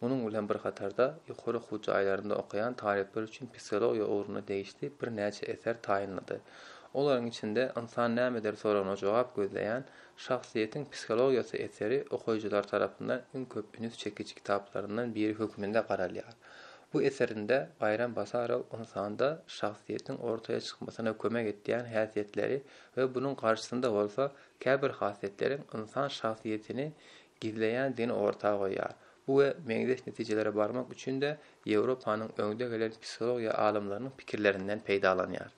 Munuň bilen bir hatarda, ýokary okuw jaýlarynda okaýan talyplar üçin psihologiýa ugruna degişli birnäçe eser taýynlady. Olaryň içinde Ynsan nämedir soragyna jogap gözleýän Şahsyýetiň psihologiýasy eseri okyjylar tarapyndan iň köp üns çekiji kitaplaryndan biri hökmünde garalýar. Bu eserinde Baýram Basarow ynsanda şahsyýetiň ortaýa çykmasyna kömek etýän häsiýetleri we bunuň garşysynda bolsa käbir hasletleriň ynsan şahsyýetini gizleýändigini orta goýýar. Bu we meňzeş netijelere barmak üçin-de Ýewropanyň öňde gelen psihologiýa alymlarynyň pikirlerinden peýdalanýar.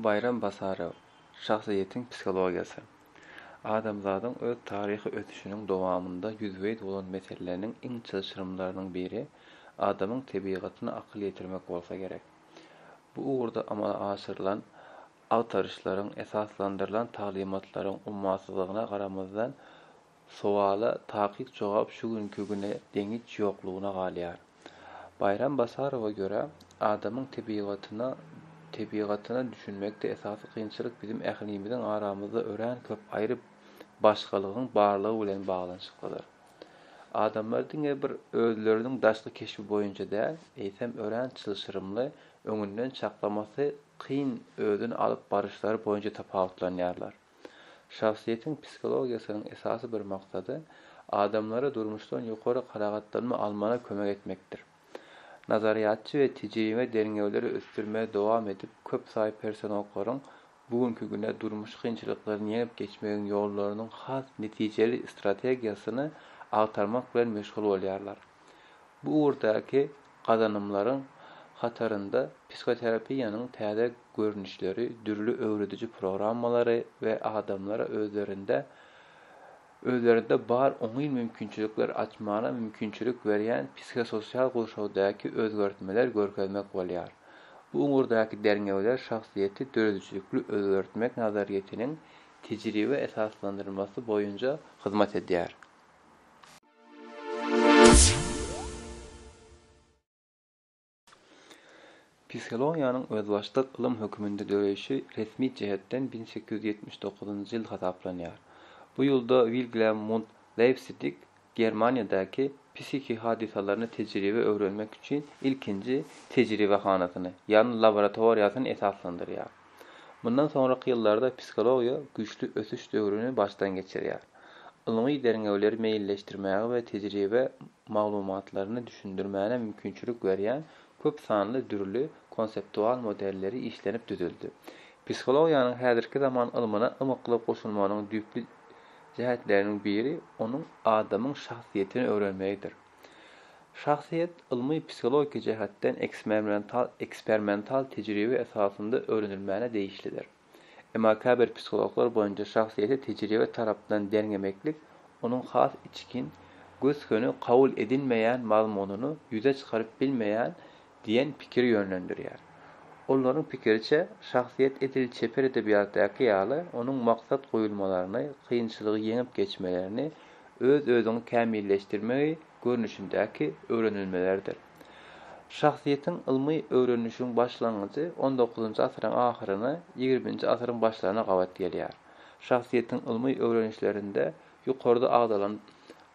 Baýram Basarow, Şahsyýetiň psihologiýasy. Adamzadyň öz taryhy ösüşiniň dowamynda ýüzbe-ýüz bolan meseleleriň iň çylşyrymlarynyň biri adamyň tebigatyna akyl ýetirmek bolsa gerek. Bu ugurda amala aşyrylan agtaryşlaryň esaslandyrylan taglymatlaryň ummasyzlygyna garamazdan, sowala takyk jogap şu günki güne deňiç ýoklugyna galýar. Baýram Basarowa görä, adamyň tebigatyna tebigatyna düşünmekde esasy kynçylyk biziň ählimiziň aramyzda örän köp aýry başgalygyň barlygy bilen baglanyşyklydyr. Adamlar diňe bir özleriniň daşky keşbi boýunça däl, eýsem örän çylşyrymly, öňünden çaklamasy kyn özüni alyp baryşlary boýunça tapawutlanýarlar. Şahsyýetiň psihologiýasynyň esasy bir maksady adamlara durmuşdan ýokary kanagatlanma almana kömek etmekdir. Nazaryýatçy we tejribe derňewleri ösdürmegi dowam edip köp saýy personaklaryň Bu günki güne durmuş kynçylyklaryny ýeňip geçmegiň ýollarynyň has netijeli strategiýasyny agtarmak bilen meşgul bolýarlar. Bu ugurdaky gazanymlaryň hatarynda psihoterapiýanyň täze görnüşleri, dürli öwrediji programmalary we adamlara özlerinde özlerinde bar oňyn mümkinçilikleri açmagyna mümkinçilik berýän psihososial gurşawdaky özgertmeler görkezmek bolýar. Bu ugurdaky derňewler şahsyýeti döredijilikli özgertmek nazaryýetiniň tejribe esaslandyrylmasy boýunja hyzmat edýär. Psihologiýanyň özbaşdak ylym hökmünde döreýşi resmi jähetden bir sekiz ýüz ýetmiş dokuzynjy ýyl hasaplanýar. Bu ýylda Wilglem Munt Leipsidig Germaniýadaky psihiki hadysalaryny tejribe öwrenmek üçin ilkinji tejribehanasyny, ýagny laboratoriýasyny esaslandyrýar. Mundan soňraky ýyllarda psihologiýa güýçli ösüş döwrüni başdan geçirýär. Ylmy derňewleri meýilleşdirmäge we tejribe maglumatlaryny düşündirmäne mümkinçilik berýän köp sanly dürli konseptual modelleri işlenip düzüldi. Psihologiýanyň häzirki zaman ylmyna ymykly goşulmanyň düýpli jähetleriniň biri onuň adamyň şahsyýetini öwrenmegidir. Şahsyýet ylmy psihologiki jähetden eksmermental ekspermental tejribe esasynda öwrenilmäne degişlidir. Emma käbir psihologlar boýunça şahsyýeti tejribe tarapdan derňemeklik onuň has içgin, gös-göni kabul edilmeýän mazmunyny ýüze çykaryp bilmeýär diýen pikiri ýönlendirýär. Olaryň pikiriçe, şahsyýet edil çeper edebiýatdaky ýaly onuň maksat goýulmalaryny, kynçylygy ýeňip geçmelerini, öz-özüňi kämilleşdirmegi görnüşindäki öwrenilmelerdir. Şahsyýetiň ylmy öwrenişigiň başlangyjy on dokuzynjy asyryň ahyryna, ýigriminji asyryň başlaryna gabat gelýär. Şahsyýetiň ylmy öwrenişlerinde ýokarda agzalan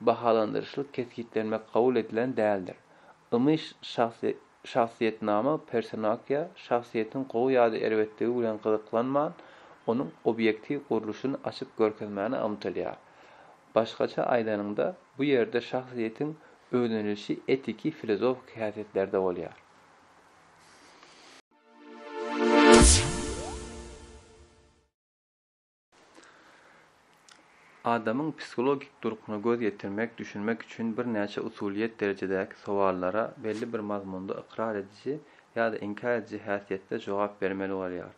bahalandyryşly kesgitlenmek kabul edilen däldir. Ylmy şahsyýetnama personakiýa şahsyýetiň gowy ýa-da erbetligi bilen gyzyklanman, onuň obýektiw gurluşyny açyp görkezmäne ymtylýar. Başgaça aýdanyňda, bu ýerde şahsyýetiň öwrenilişi etiki-filozofiki häsiýetlerde bolýar. Adamyň psihologik durkuna göz ýetirmek, düşünmek üçin birnäçe usulyýet derejedäki sowallara belli bir mazmunda ykrar ediji ýa-da inkär ediji häsiýetde jogap bermeli bolýar.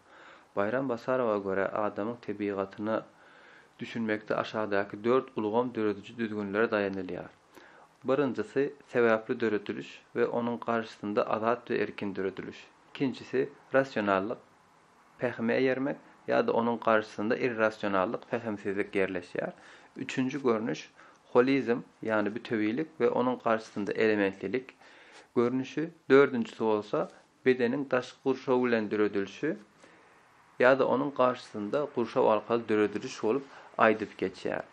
Baýram Basarowa görä, adamyň tebigatyna düşünmekde aşakdaky dört ulgam dörediji düzgünlere daýanylýar. Birinjisi, sebäpli dörediliş we onuň garşysynda azat we erkin dörediliş. Ikinjisi, rasionallyk, pähime eýermek, ýa-da onuň garşysynda irrasionallyk, pähimsizlik ýerleşýär. Üçünji görnüş, holizm, ýagny bütewilik we onuň garşysynda elementlilik görnüşi. Dördünjisi bolsa, Bedeniň daşky gurşaw bilen döredilişi ýa-da onuň garşysynda gurşaw arkaly dörediliş bolup aýdyp geçýär.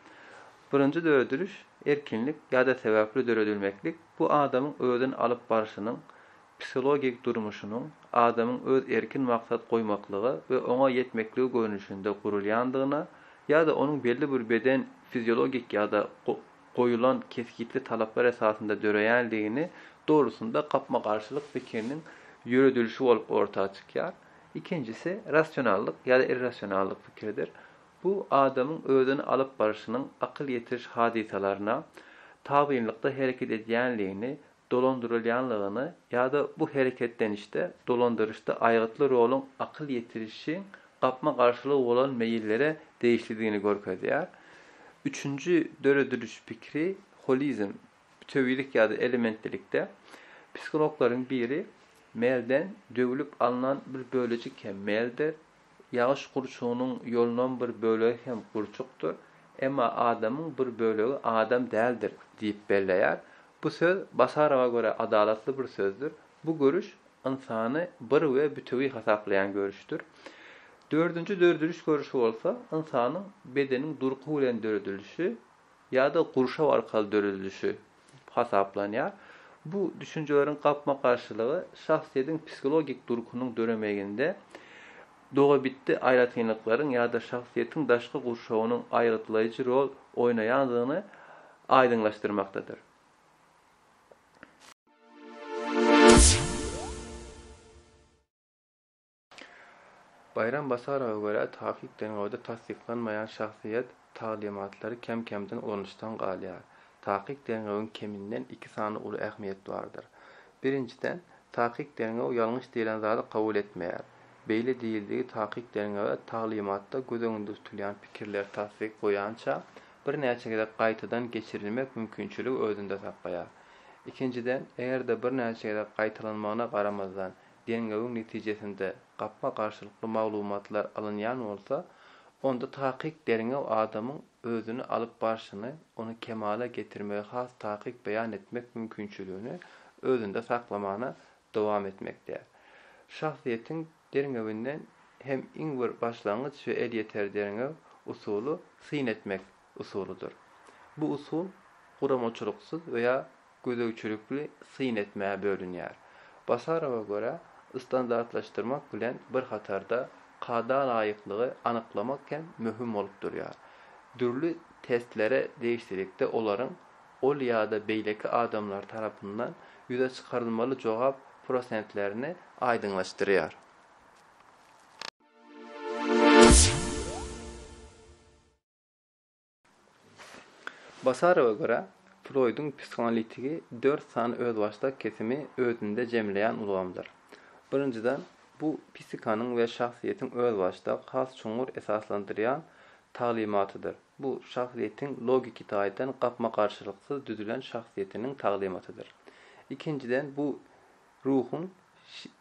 Birinji dörediliş, erkinlik ýa-da sebäpli döredilmeklik, bu adamyň özüni alyp barşynyň, psihologik durmuşynyň, adamyň öz erkin maksat goýmaklygy we oňa ýetmekligi görnüşinde gurulýandygyna ýa-da onuň belli bir beden fiziologik ýa-da goýulan kesgitli talaplar esasynda döreýändigini, dolusynda gapma-garşylyk pikiriniň ýöredilişi bolup orta çykýar. Ikinjisi, rasionallyk ýa-da irrasionallyk pikiridir. Bu adamyň özüni alyp barşynyň akyl ýetiriş hadysalaryna tabynlykda hereket edýändigini, dolandyrylýanlygyny ýa-da bu hereketlenişde dolandyryşda aýgytly roluň akyl ýetirişiň gapma-garşylygy bolan meýillere degişlidigini görkezýär. Üçünji dörediliş pikiri, holizm, bütewilik ýa-da elementlilikde, psihologlaryň biri, Melden döwlüp alnan bir bölejik hem Meldir, Ýagyş gurçugynyň ýolunam bir bölegi hem gurçukdyr, emma adamyň bir bölegi adam däldir diýip belleýär. Bu söz Basarowa görä adalatly bir sözdür. Bu görüş ynsany bir we bütewi hasaplaýan görüşdir. Dördünji dörediliş görüşi bolsa ynsanyň bedeniň durky bilen döredilişi ýa-da gurşaw arkaly döredilişi hasaplanýar. Bu düşünjeleriň gapma-garşylygy şahsyýetiň psihologik durkunyň döremeginde dogabitdi aýratynlyklaryň ýa-da şahsyýetiň daşky gurşawynyň aýgytlaýjy rol oýnaýandygyny aýdyňlaşdyrmakdadyr. Baýram Basarowa görä, takyk derňewde tassyklanmaýan şahsyýet taglymatlary kem-kemden ulanyşdan galýar. Takyk derňewiň keminden iki sany uly ähmiýet bardyr. Birinjiden, takyk derňew ýalňyş diýlen zady kabul etmeýär. Beýle diýildigi takyk derňewe taglymatda göz öňünde tutulýan pikirler tassyk goýança birnäçe gezek gaýtadan geçirilmek mümkinçiligi özünde saklaýar. Ikinjiden, eger-de birnäçe gezek gaýtalanmagyna garamazdan, derňewiň netijesinde gapma-garşylykly maglumatlar alynýan bolsa, onda takyk derňew adamyň özüni alyp barşyny, ony kemala getirmegi has takyk beýan etmek mümkinçiligini özünde saklamana dowam etmekde. Şahsyýetiň derňewinden hem iň bir başlangyç we elýeter derňew usuly syn etmek. usulydyr. Bu usul guramaçylyksyz we ýa gözegçilikli syn etmäge bölünýär. Basarowa görä, standartlaşdyrmak bilen bir hatarda kada laýyklygy anyklamak hem möhüm bolup durýar. Dürli testlere degişlilikde olaryň ol ýa-da beýleki adamlar tarapyndan ýüze çykarylmaly jogap prosentlerini aýdyňlaşdyrýar. Basarowa görä, Froýduň psihoanalitigi dört sany özbaşdak kesimi özünde jemleýän ulgamdyr. Birinjiden, bu psihikanyň we şahsyýetiň özbaşdak, has çuňňur esaslandyrýan taglymatydyr. Bu şahsyýetiň logiki taýdan gapma-garşylyksyz düzülen şahsyýetiniň taglymatydyr. Ikinjiden, bu ruhuň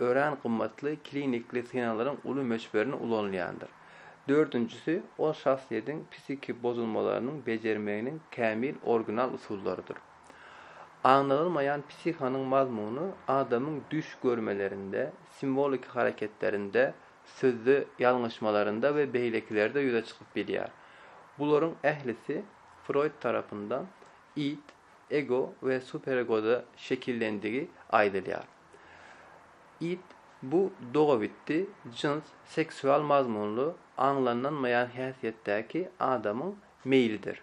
Örän gymmatly klinikli synaglaryň uly möçberini ulanylýandyr. Dördünjisi, ol şahsyýetiň psihiki bozulmalarynyň bejermeginiň kämil original usullarydyr. Aňladylmaýan psihanyň mazmuny adamyň düş görmelerinde, simwoliki hareketlerinde, sözde ýalňyşmalarynda we beýlekilerde ýüze çykyp bilýär. Bularyň ählisi Froýd tarapyndan id, ego we superegoda şekillendigi aýdylýar. It, bu dogabitdi jyns seksual mazmunly aňlanlanmaýan häsiýetdäki adamyň meýlidir.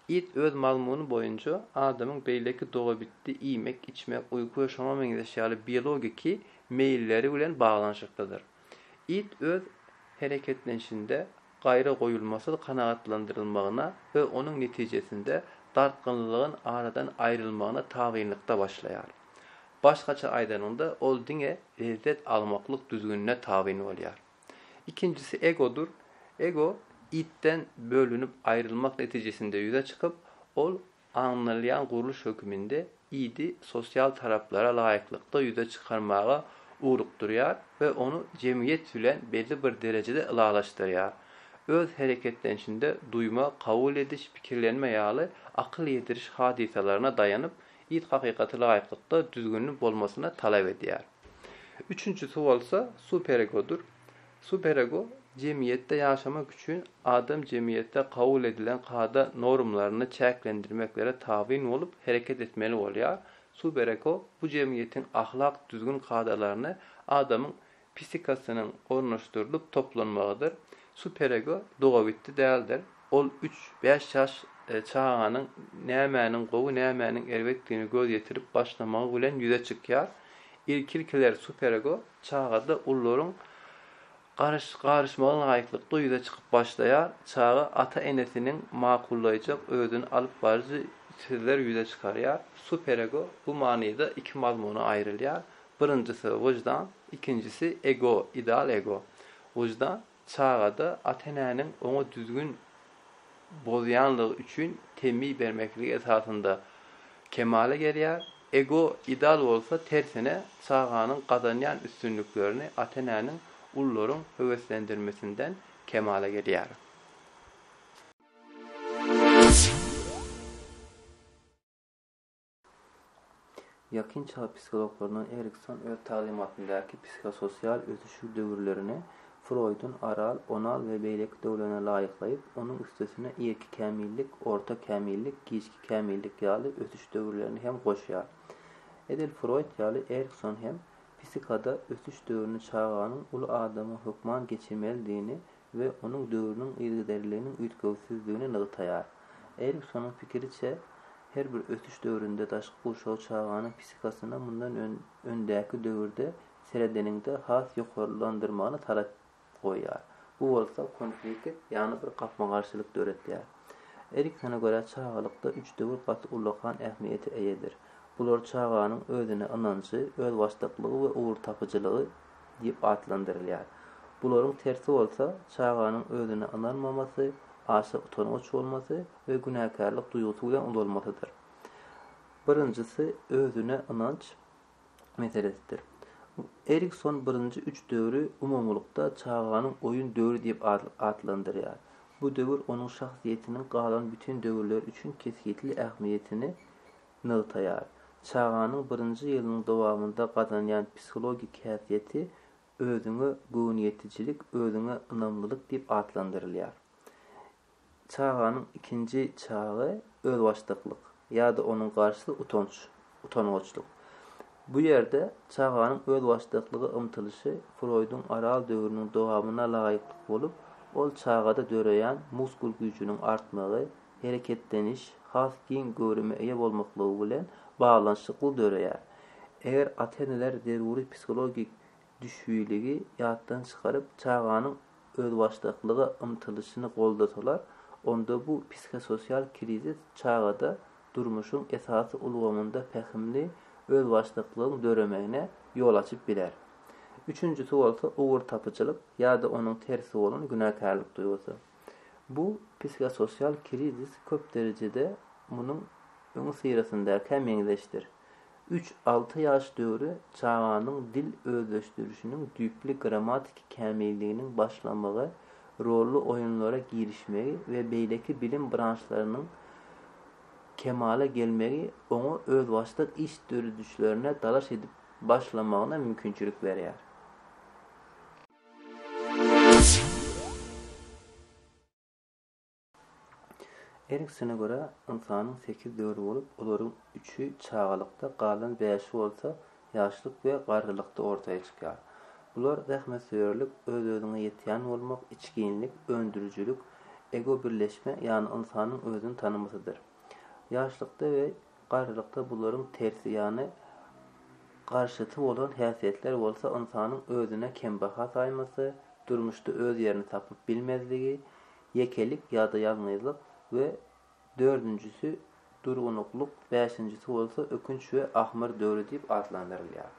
It öz mazmuny boýunça adamyň beýleki dogabitdi iýmek, içmek, uýky we şoňa meňzeş ýaly biologiki meýilleri bilen baglanyşyklydyr. It öz hereketlenişinde gaýra goýulmasyz kanagatlandyrylmagyna we onuň netijesinde dartgynlylygyň aradan aýrylmagyna tabynlykda başlaýar. Başgaça aýdanyňda, ol diňe lezzet almaklyk düzgünine tabyn bolýar. Ikinjisi egodyr. Ego idden bölünip aýrylmak netijesinde ýüze çykyp, ol alynylýan gurluş höküminde idi sosial talaplara laýyklykda ýüze çykarmaga ugrukdyrýar we ony jemgyýet bilen belli bir derejede ylalaşdyrýar. Öz hereketlenişinde duýma, kabul ediş, pikirlenme ýaly akyl ýetiriş hadysalaryna daýanyp, it hakykaty laýyklykda düzgünli bolmasyny talap edýär. Üçünjisi bolsa superegodyr. Superego jemgyýetde ýaşamak üçin adam jemgyýetde kabul edilen kada normalaryny çäklendirmeklere tabyn bolup hereket etmeli bolýar, superego bu jemgyýetiň ahlak düzgün kadalaryny adamyň psihikasynyň ornaşdyrylyp toplanmagydyr, superego dogabitdi däldir. Ol üç, bäş ýaş çaganyň nämäniň gowy, nämäniň erbetdigini göz ýetirip başlamagy bilen ýüze çykýar. Ilki-ilkiler superego çagada ullaryň garyş-garyşmagy laýyklykda ýüze çykyp başlaýar. Çaga ata-enesiniň makullaýjak özüni alyp baryjy sizler ýüze çykarýar. Superego bu manyda iki mazmuna aýrylýar. Birinjisi, wyždan, ikinjisi, ego, ideal ego. Wyždan, Çagada ata-enäniň oňa düzgün bozýanlygy üçin temmi bermeklik esasynda kemala gelýär. Ego ideal bolsa tersine çaganyň gazanýan üstünliklerini ata-enäniň ulularyň höweslendirmesinden kemala gelýär. Ýakyn çag psihologlaryndan Erikson öz taglymatyndaky psihososial ösüşi döwürlerini Froýdun, Aral, Onal we beýleki döwrlerine laýyklaýyp, onuň üstesine irki kämillik, orta kämillik, giçki kämillik ýaly ösüş döwürlerini hem goşýar. Edil Froýd ýaly Erikson hem psihikada ösüş döwrüni çaganyň uly adama hökman geçirmelidigini we onuň döwrüniň yzygiderliliginiň üýtgewsizdigini nygtaýar. Eriksonyň pikiriçe, her bir ösüş döwründe daşky gurşaw çaganyň psihikasyna mundan öňdäki döwürde seredeniňde has ýokarlandyrmagyny talap goýýar. Bu bolsa konflikt, ýagny bir gapma-garşylyk döretýär. Eriksona görä, çagalykda üç döwür gaty ullakan ähmiýete eýedir. Bular çaganyň özüne ynanjy, özbaşdaklygy we ugurtapyjylygy. diýip atlandyrylýar. Bularyň tersi bolsa, çaganyň özüne ynanmamasy, aşa utangaç bolmasy we günäkärlik duýgusy bilen ulalmasydyr. Birinjisi özüne ynanç meselesidir. Erikson birinji üç döwri umumylykda çaganyň oýun döwri diýip atlandyrýar. Bu döwür onuň şahsyýetiniň galan bütin döwürler üçin kesgitli ähmiýetini nygtaýar. Çaganyň birinji ýylynyň dowamynda gazanýan psihologik häsiýeti özüňe göwniýetijilik, özüňe ynamlylyk diýip atlandyrylýar. Çaganyň ikinji çagy özbaşdaklyk ýa-da onuň garşysy utanç, utangaçlyk. Bu ýerde çaganyň özbaşdaklyga ymtylyşy Froýduň Aral döwrüniň dowamyna laýyklyk bolup, ol çagada döreýän muskul güýjüniň artmagy, hereketleniş has giň göwrüme eýe bolmaklygy bilen baglanyşykly döreýär. Eger ata-eneler zeruri psihologik düşbüligi ýatdan çykaryp, çaganyň özbaşdaklyga ymtylyşyny goldasalar, onda bu psihososial krizis çagada durmuşyň esasy ulgamynda pähimli özbaşdaklygyň döremegine ýol açyp biler. Üçünjisi bolsa ugurtapyjylyk ýa-da onuň tersi bolan günäkärlik duýgusy. Bu psikososial krizis köp derejede munuň öňüsyrasyndakyha meňzeşdir. Üç, alty ýaş döwri çaganyň dil özleşdirişiniň düýpli grammatiki kämilliginiň başlamagy, rolly oýunlara girişmegi we beýleki bilim branşlarynyň kemala gelmegi oňa özbaşdak iş döredişlerine dalaş edip başlamagyna mümkinçilik berýär. Eriksene görä, ynsanyň sekiz döwri bolup, olaryň üçi çagalykda, galan bäşi bolsa ýaşlyk we garrylykda ortaýa çykýar. Bular zähmetsöýerlik, öz-özüňe ýetýän bolmak, içginlik, öndürijilik, ego-birleşme, ýagny ynsanyň özüni tanamasydyr. Ýaşlykda we Garrylykda bularyň tersi ýany garşysy bolan häsiýetler bolsa ynsanyň özüne kembaha saýmasy, durmuşda öz ýerini tapyp bilmezligi, ýekelik ýa-da ýalňyzlyk we dördünjisi durgunuklyk, bäşinjisi bolsa ökünç we ahmyr döwri diýip atlandyrylýar.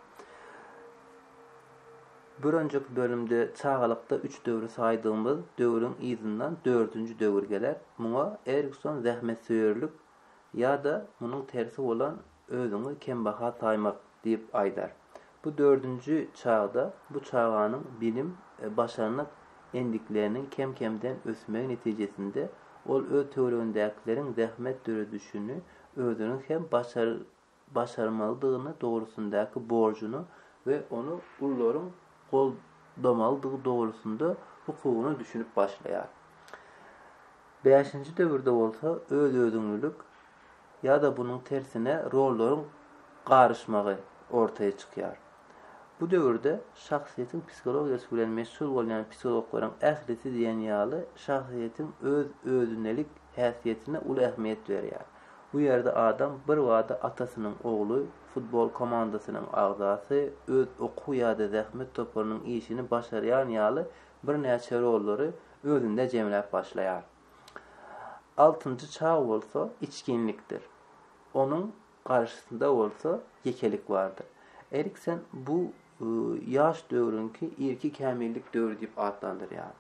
Bir önjeki bölümde çagalykda üç döwri saýdygymyz döwrüň yzyndan dördünji döwür geler. Muňa Erikson zähmetsöýerlik ýa-da munuň tersi bolan özüňi kembaha saýmak diýip aýdar. Bu dördünji çagda bu çaganyň bilim, başarnyk endikleriniň kem-kemden ösmegi netijesinde ol öz töweregindäkileriň zähmet döredişini özüniň hem başarmalydygyny dogrusyndaky borjuny we ony ullaryň goldamalydygy dogrusynda hukugyny düşünip başlaýar. Bäşinji döwürde bolsa öz-özüňlilik ýa-da bunuň tersine rollaryň garyşmagy ortaýa çykýar. Bu döwürde şahsyýetiň psihologiýasy bilen meşgul bolýan psihologlaryň ählisi diýen ýaly şahsyýetiň öz-özünelik häsiýetine uly ähmiýet berýär. Bu ýerde adam birbada atasynyň ogly, futbol komandasynyň agzasy, öz okuw ýa-da zähmet toparynyň işini başarýan ýaly birnäçe rollary özünde jemläp başlaýar. Altynjy çag bolsa içginlikdir. Onuň garşysynda bolsa ýekelik bardyr. Eriksen bu ýaş döwrüňki irki kämillik döwri diýip atlandyrýar.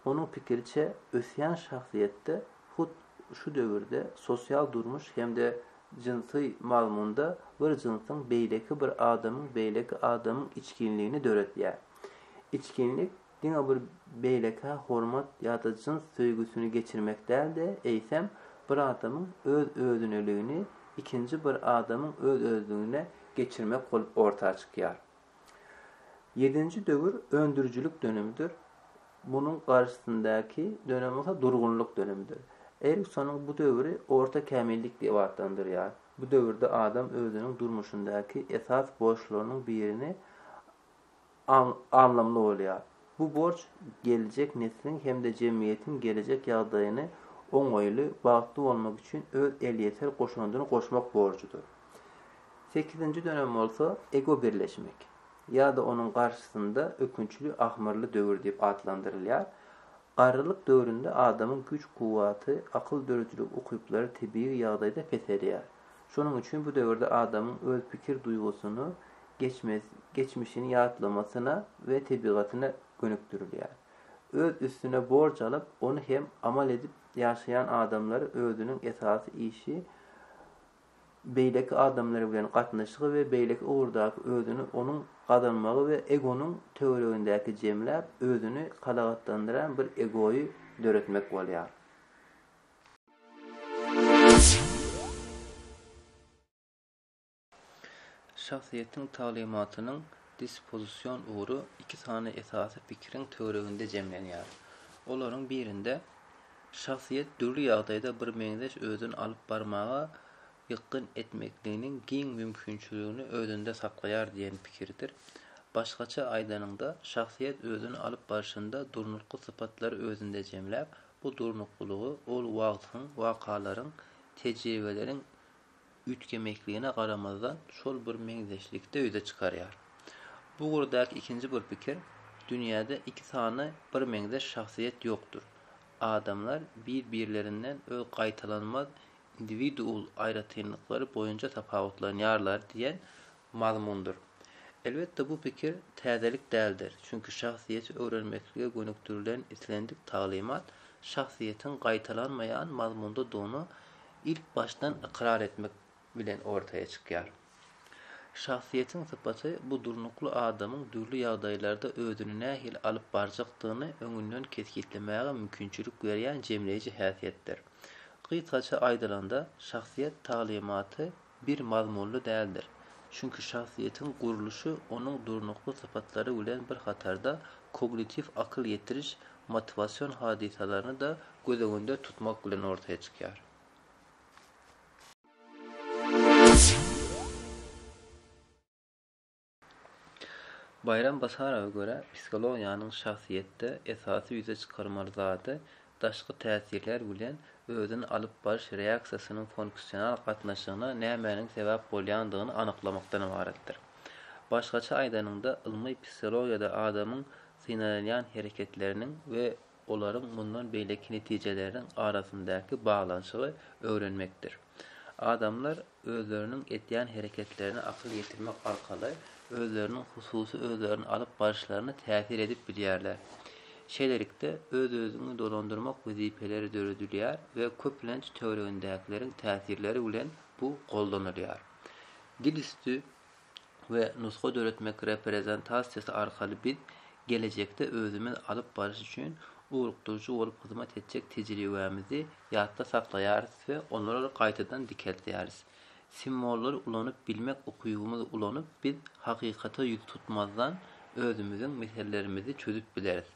Onuň pikiriçe, ösýän şahsyýetde hut şu döwürde sosial durmuş hem-de jynsy mazmunda bir jynsyň beýleki bir adamyň beýleki adamyň içginligini döretýär. Içginlik diňe bir beýlekä hormat ýa-da jyns söýgüsini geçirmek däl-de, eýsem, bir adamyň öz-özüneligini ikinji bir adamyň öz-özlügine geçirmek bolup orta çykýar. Ýedinji döwür öndürijilik dönemidir. Munuň garşysyndäki dönem bolsa durgunlyk dönemidir. Eriksonyň bu döwri orta kämillik diýip atlandyrýar. Bu döwürde adam özüniň durmuşyndaky esas borçlarynyň birini anlamly bolýar. Bu borç geljek nesliň hem-de jemgyýetiň gelejek ýagdaýyny oňaýly, bagtly bolmak üçin öz elýeter goşandyny goşmak borjudyr. Sekizinji dönem bolsa Ego birleşmek ýa-da onuň garşysynda ökünçli ahmyrly döwür diýip atlandyrylýar. Garrylyk döwründe adamyň güýç-kuwwaty, akyl döredijilik ukyplary tebigy ýagdaýda peselýär. Şonuň üçin bu döwürde adamyň öz pikir duýgusyny geçmez, geçmişini ýatlamasyna we tebigatyna gönükdirilýär. Öz üstüne borç alyp, ony hem amal edip ýaşaýan adamlar özüniň esasy işi beýleki adamlar bilen gatnaşygy we beýleki ugurdaky özüni onuň gazanmagy we egonyň töweregindäki jemläp, özüni kanagatlandyran bir egoýy döretmek bolýar. Şahsyýetiň taglymatynyň dispozision ugry iki sany esasy pikiriň töwereginde jemlenýär. Olaryň birinde şahsyýet dürli ýagdaýda birmeňzeş özüni alyp barmaga ýykgyn etmekliginiň giň mümkinçiligini özünde saklaýar diýen pikirdir. Başgaça aýdanyňda, şahsyýet özüni alyp barşynda durnukly sypatlary özünde jemläp, bu durnuklylygy ol wagtyň, wakalaryň, tejribeleriň üýtgemekligine garamazdan şol bir meňzeşlikde ýüze çykarýar. Bu ugurdaky ikinji bir pikir, dünýäde iki sany birmeňzeş şahsyýet ýokdur. Adamlar bir-birlerinden öz gaýtalanmaz indiwidual aýratynlyklary boýunça tapawutlanýarlar diýen mazmundyr. Elbetde, bu pikir täzelik däldir, çünki şahsyýeti öwrenmeklige gönükdirilen islendik taglymat şahsyýetiň gaýtalanmaýan mazmundadygyny ilkbaşdan ykrar etmek bilen ortaýa çykýar. Şahsyýetiň sypaty bu durnukly adamyň dürli ýagdaýlarda özüni nähili alyp barjakdygyny öňünden kesgitlemäge mümkinçilik berýän jemleýji häsiýetdir. Gysgaça aýdylanda, şahsyýet taglymaty, bir mazmunly däldir. Çünki şahsyýetiň gurluşy onuň durnukly sypatlary bilen bir hatarda kognitiw akyl ýetiriş, motiwasion hadysalaryny-da göz öňünde tutmak bilen ortaya çykýar. Baýram Basarowa görä, psihologiýanyň şahsyýetde esasy ýüze çykarmaly zady daşky täsirler bilen özüni alyp baryş reaksiýasynyň funksional gatnaşygyna nämäniň sebäp bolýandygyny anyklamakdan ybaratdyr. Başgaça aýdanyňda, ylmy psihologiýada adamyň synalýan hereketleriniň we olaryň mundan beýleki netijeleriniň arasyndaky baglanyşygy öwrenmekdir. Adamlar özleriniň edýän hereketlerine akyl ýetirmek arkaly özleriniň hususy özlerini alyp baryşlaryna täsir edip bilýärler. Şeýlelikde, öz-özüňi dolandyrmak wezipeleri döredilýär we köplenç töweregindäkileriň täsirleri bilen bu goldanylýar. Dil üsti we nusga döretmek reprezentasiýasy arkaly biz gelejekde özümiz alyp baryş üçin ugrukdyryjy bolup hyzmat etjek tejribämizi ýatda saklaýarys we onary gaýtadan dikeldýäris. Simwollary ulanyp bilmek ukybymyzy ulanyp biz hakykata ýüz tutmazdan özümiziň meselelerimizi çözüp bileris.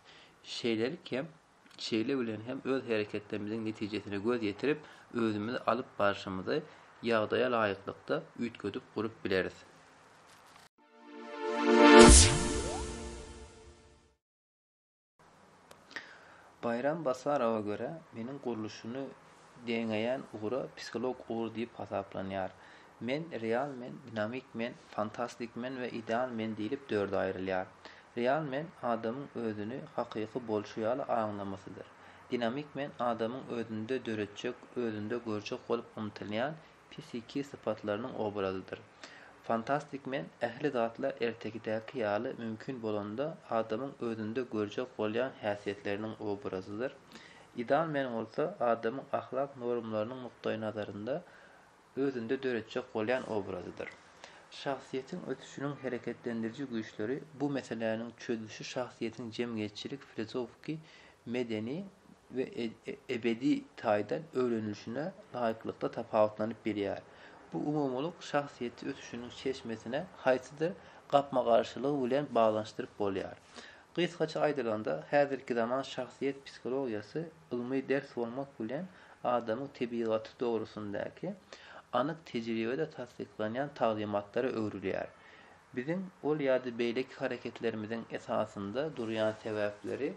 Şeýlelik hem Şeýle bilen hem öz hereketlerimiziň netijesine göz ýetirip, özümizi alyp barşymyzy ýagdaýa laýyklykda üýtgedip gurup bileris. Baýram Basarowa görä, meniň gurluşyny deňeýän ugra psiholog ugur diýip hasaplanýar. Men, real men, dinamik men, fantastik men we ideal men diýlip dörde aýrylýar. Real men, adamyň özüni hakyky bolşy ýaly aňlamasydyr. Dinamik men, adamyň özünde döretjek, özünde görjek bolup ymtylýan psihiki sypatlarynyň obrazydyr. Fantastik men, ähli zatlar ertekidäki ýaly mümkin bolanda adamyň özünde görjek bolýan häsiýetleriniň obrazydyr. Ideal men bolsa, adamyň ahlak normlarynyň nukdaýnazarynda özünde döretjek bolýan obrazydyr. Şahsyýetiň ösüşiniň hereketlendiriji güýçleri bu meseläniň çözlüşi şahsyýetiň jemgyýetçilik, filozofiki, medeni we ebedi taýdan öwrenilişine laýyklykda tapawutlanyp bilýär. Bu umumylyk şahsyýeti ösüşiniň çeşmesine haýsydyr gapma-garşylygy bilen baglanyşdyryp bolýar. Gysgaça aýdylanda, häzirkizaman şahsyýet psihologiýasy Ylmy ders bolmak bilen, adamyň tebigaty dogrusyndaky anyk tejribede tassyklanýan taglymatlara öwrülýär. Biziň ol ýa-da beýleki hereketlerimiziň esasynda durýan sebäpleri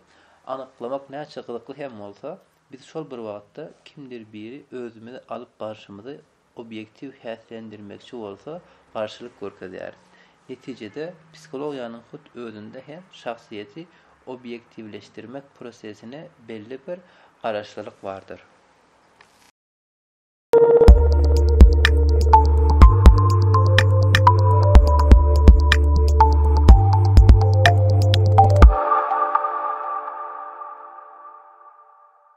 anyklamak näçe gyzykly hem bolsa, biz şol bir wagtda kimdir biri özümizi alyp barşymyzy obýektiw häslendirmekçi bolsa garşylyk görkezýär. Netijede, psihologiýanyň hut özünde hem şahsyýeti obýektiwleşdirmek prosesine belli bir garaşlylyk bardyr.